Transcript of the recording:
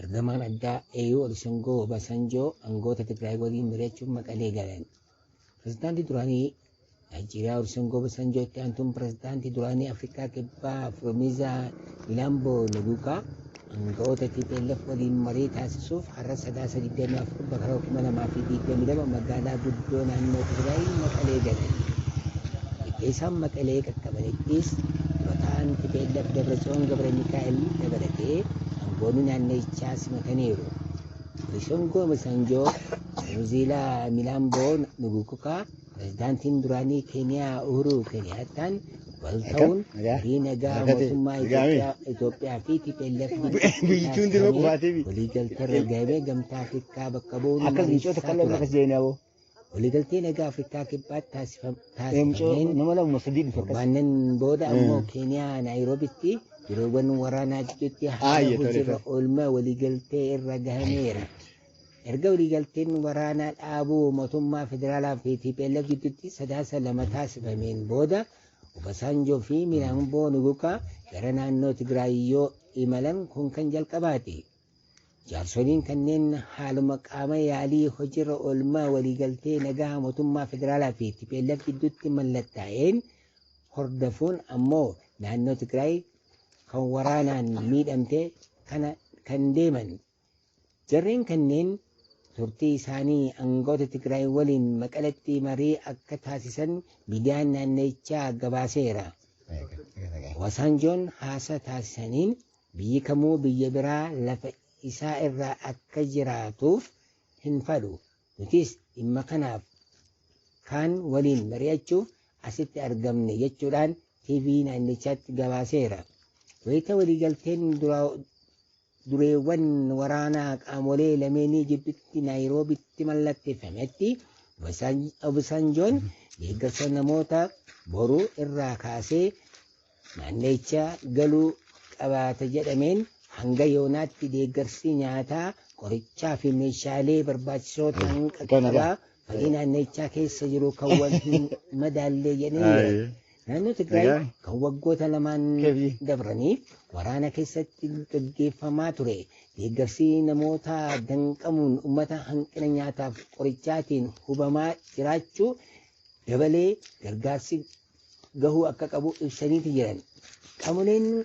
Ergamaan addaa AU Olisengoo Obasanjoo angoota Tigraay waliin mari'achuuf Maqalee galan. Pirezidaantii duraanii Naayijeeriyaa Olisengoo Obasanjoo itti aantuun pirezidaantii duraanii Afrikaa Kibbaa Firomizaa Laamboo Naguukaa anga'oota TPLF waliin marii taasisuuf har'a sadaasa 24 Bara 2022 magaalaa guddoo naannoo Tigraay Maqalee gale. Erga isaan Maqalee qaqqabanittis dura taa'aan tplf Dabratsiyoon Gabramikaa'el dabalatee aangoonni naannichaa simataniiru. Olisongo Obasanjo, Nuziilaa Milaamboo Nugukukaa, Pirezidaantiin duraanii Keeniyaa Uhuruu Keeniyaattaan wal ta'uun marii nagaa mootummaa Itoophiyaa fi TPLF Biyyichuun dirma qubaatiifi. waliigalteerra gahee gamtaa Afrikaa bakka bu'uun Akka biyyoota mariisaa kallan turan. akka seenaa boo. Waliigaltee nagaa Afrikaa kibbaatti taasifam- Eemcoo taasifameen nama lama sadii dhufa akkas. Torbaanan booda ammoo Keeniyaa Naayiroobitti yeroowwan waraanaa gidduutti haala Aayye, tole, hojiirra tole. oolmaa waliigaltee irra gahameera. Erga waliigalteen waraanaa dhaabuu mootummaa federaalaa fi TPLF gidduutti sadaasa lama taasifameen booda Obasaanjoo fi Milaamboo Nugukaa gara naannoo Tigraay yoo imalan kun kan jalqabaati. Jaarsoliin kanneen haaluma qaama yaalii hojiirra oolmaa waliigaltee nagaa mootummaa federaalaa fi TPLF gidduutti mallattaa'een hordofuun ammoo naannoo Tigraay kan waraanaan miidhamte kana kan deeman Jarreen kanneen turtii isaanii angawoota Tigraay waliin Maqaletti marii akka taasisan miidiyaan naannichaa gabaaseera. Obasaanjoon haasaa taasisaniin biyyi kamuu biyya biraa lafa isaa irra akka jiraatuuf hin fadhu. Nutis dhimma kanaaf kaan waliin mari'achuuf asitti argamne jechuudhaan TV naannichaatti gabaaseera. Wayita waliigalteen dureewwan waraanaa qaamolee lameenii jiddutti Naayiroobitti mallatteeffametti Obasanjoon deeggarsa namoota boru irraa kaasee naannicha galuu qabaata jedhameen hanga yoonaatti deeggarsi nyaataa, qorichaa fi meeshaalee barbaachisoo ta'an qaqqabaa Farii naannichaa keessa jiru kan wal hin madaallee jedhee Ayi. Naannoo Tigraay Egaa. kan waggoota lamaan Kebi. dabraniif waraana keessatti gaggeeffamaa ture deeggarsi namoota danqamuun uummata hanqina nyaataaf qorichaatiin hubamaa jiraachuu dabalee gargaarsi gahuu akka qabu ibsaniiti jiran. Qaamoleen